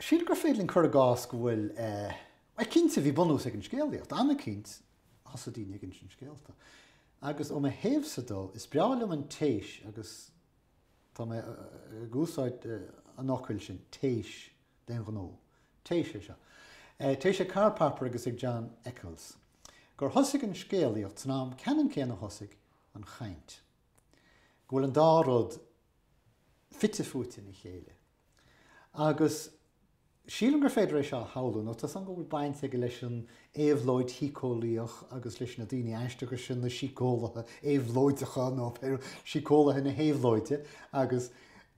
Sílim gur féidir linn cur i gcás go bhfuil, bhuel, cinnte, bhí bunús ag an scéalaíocht, an chaoi ar thosaigh daoine ag insint scéalta. Agus ó mo thaobhsa de, is breá liom an téis agus tá mé ag úsáid an fhocail sin, téis, d'aon ghnó. Téis é seo. Téis ag Karl Popper agus ag John Eccles. Gur thosaigh an scéalaíocht san am ceannann céanna ar thosaigh an chaint. Go bhfuil an dá rud fite fuaite ina chéile. Agus sílim gur féidir é seo a shamhlú, nó tá seans go bhfuil baint aige leis an éabhlóid shíceolaíoch agus leis na daoine aisteacha sin, na síceolaithe éabhlóideacha, nó síceolaithe na héabhlóide. Agus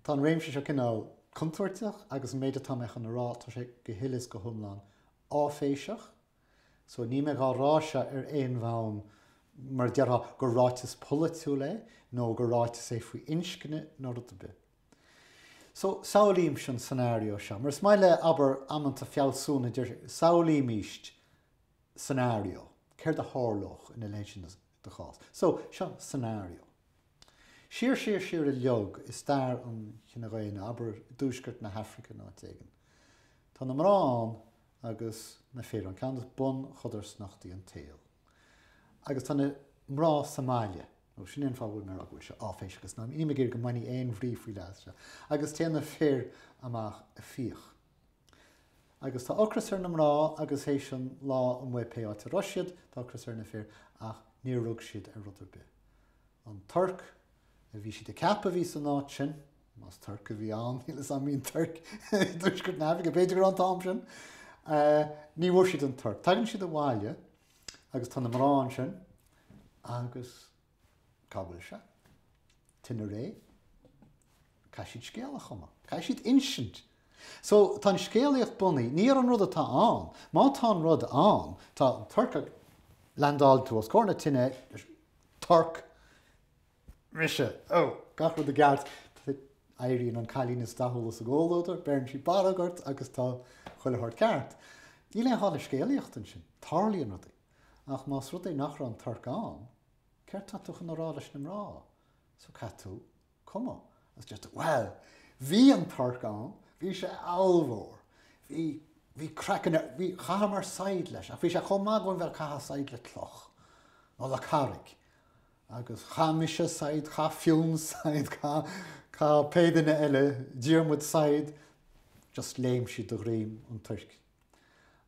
tá an réimse seo cineál contúirteach agus an méid atá mé chun a rá, tá sé go huile is go hiomlán áiféiseach. So níl mé dhá rá seo ar aon bhonn, mar a déarfá, gur ráiteas polaitiúil é, nó gur ráiteas é faoi inscne, nó rud ar bith. So, samhlaímse an scenario seo. Mar is maith le, abair, amanta fealsúna, deir siad, samhlaímis scenario, céard a tharlódh ina leithéid seo de chás. So, seo scenario. Siar, siar, siar i bhfad i stair an chine dhaonna, abair, i dtuaisceart na hAfraice nó áit éigin, tá na mná ann agus na fir ann, ceann de bhunchodarsnachtaí an tsaoil. Agus tá na mná sa mbaile. Nó sin é an fáth a bhfuil mé a rá go bhfuil sé áiféiseach is nílim ag iarraidh go mbainfidh aon bhrí faoi leith as seo. Agus téann na fir amach ag fiach. Agus tá ocras ar na mná agus théis an lá amuigh pé áit a raibh siad, tá ocras ar na fir ach níor rug siad ar rud ar bith. An Torc. a bhí siad ag ceapadh a bhí san áit sin, más torc a bhí ann, níl 'fhios a'm, an mbíonn torc i dtuaisceart na hAfraice, b'fhéidir go raibh an t-am sin, ní bhfuair siad an torc. Tagann siad abhaile agus tá na mná ansin agus cá bhfuil sé? Tine réidh. Caithfidh siad scéal a chumadh, caithfidh siad insint. So tá an scéalaíocht bunaithe, ní ar an rud atá ann, má tá an rud ann, tá an torc ann, leandálann tú os comhair na tine, torc, Mise, Ó, gach rud i gceart, éiríonn an cailín is dathúla sa gcomhluadar, beireann sí barróg ort agus tá chuile shórt ceart. Níl aon ghá le scéalaíocht ansin, tarlaíonn rudaí. Ach más rud é nach raibh an torc ann, céard tá tú chun a rá leis na mná? So caithfidh tú cumadh. Agus deir tú, Bhuel, bhí an torc ann, bhí sé ollmhór, bhí, bhí craiceann air, bhí, chaitheamar saighead leis ach bhí sé chomh maith againn bheith ag caitheamh saighead le cloch nó le carraig. Agus chaith mise saighead, chaith Fionn saighead, chaith, chaith pé duine eile, Diarmuid saighead, just léim siad de dhroim an toirc.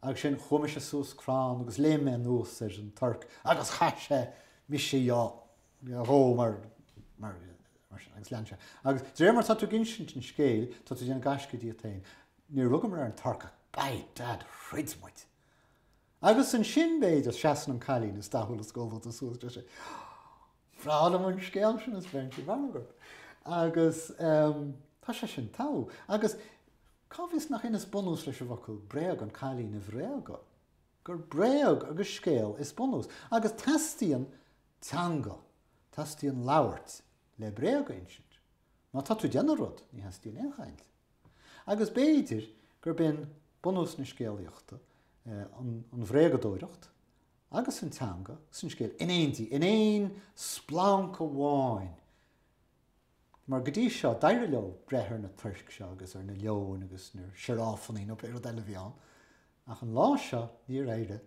Agus sin chuaigh mise suas crann agus léim mé anuas ar an torc agus chaith sé mise dho, dhó mar, mar, mar sin agus lean sé. Agus de réir mar atá tú ag insint an scéil, tá tú ag déanamh gaisce díot féin. Níor rugamar ar an torc ach, by dad, throid muid! Agus ansin, b'fhéidir, seasann an cailín is dathúla is goalmhaite suas, deir sí, Bhreá liom an scéal sin is beireann sí barróg ort. Agus tá sé sin togha. Agus cá bhfios nach in is bunús leis an bhfocal bréag an cailín a bhréagadh, gur bréag agus scéal is bunús. Agus teastaíonn teanga, teastaíonn labhairt le bréag a insint. Má tá tú ag déanamh rud, ní theastaíonn aon chaint. Agus b'fhéidir gurb in bunús na scéalaíochta an bhréagadóireacht agus an teanga is an scéal in éindí, in aon splanc amháin, mar go dtí seo d'éirigh leo breith ar na toirc seo agus ar na leoin agus na sioráfannaí nó pé rud eile a bhí ann, ach an lá seo níor éirigh,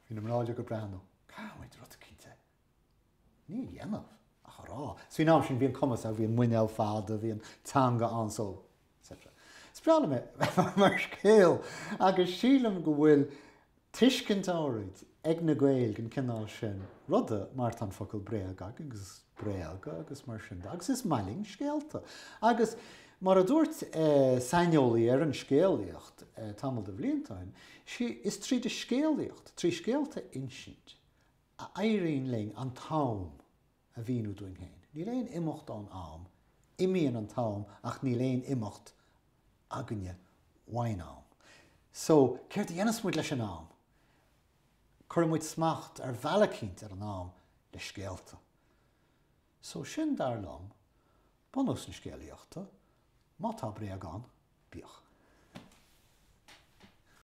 bhí na mná uilig ag breathnú, caithfimid rud eicínt a. Ní a dhéanamh ach a rá, is faoin am sin bhí an cumas ann, bhí an muinéal fada, bhí an teanga ann so, etc. Is breá liom é mar scéal agus sílim go bhfuil tuiscint áirid ag na Gaeil den chineál sin ruda mar tá an focal bréag agus bréagadh agus mar sin de agus is maith linn scéalta agus mar a dúirt saineolaí ar an scéalaíocht tamall de bhlianta ó shin, is tríd an scéalaíocht, trí scéalta a insint, a éiríonn linn an t-am a mhíniú dúinn féin. Níl aon imeacht ón am, imíonn an t-am ach níl aon imeacht againne uaidh an am. So, céard a dhéanfas muid leis an am? Cuireann muid smacht ar bhealach eicínt ar an am le scéalta. So, sin, dar liom, bunús na scéalaíochta. Má tá bréag ann, bíodh.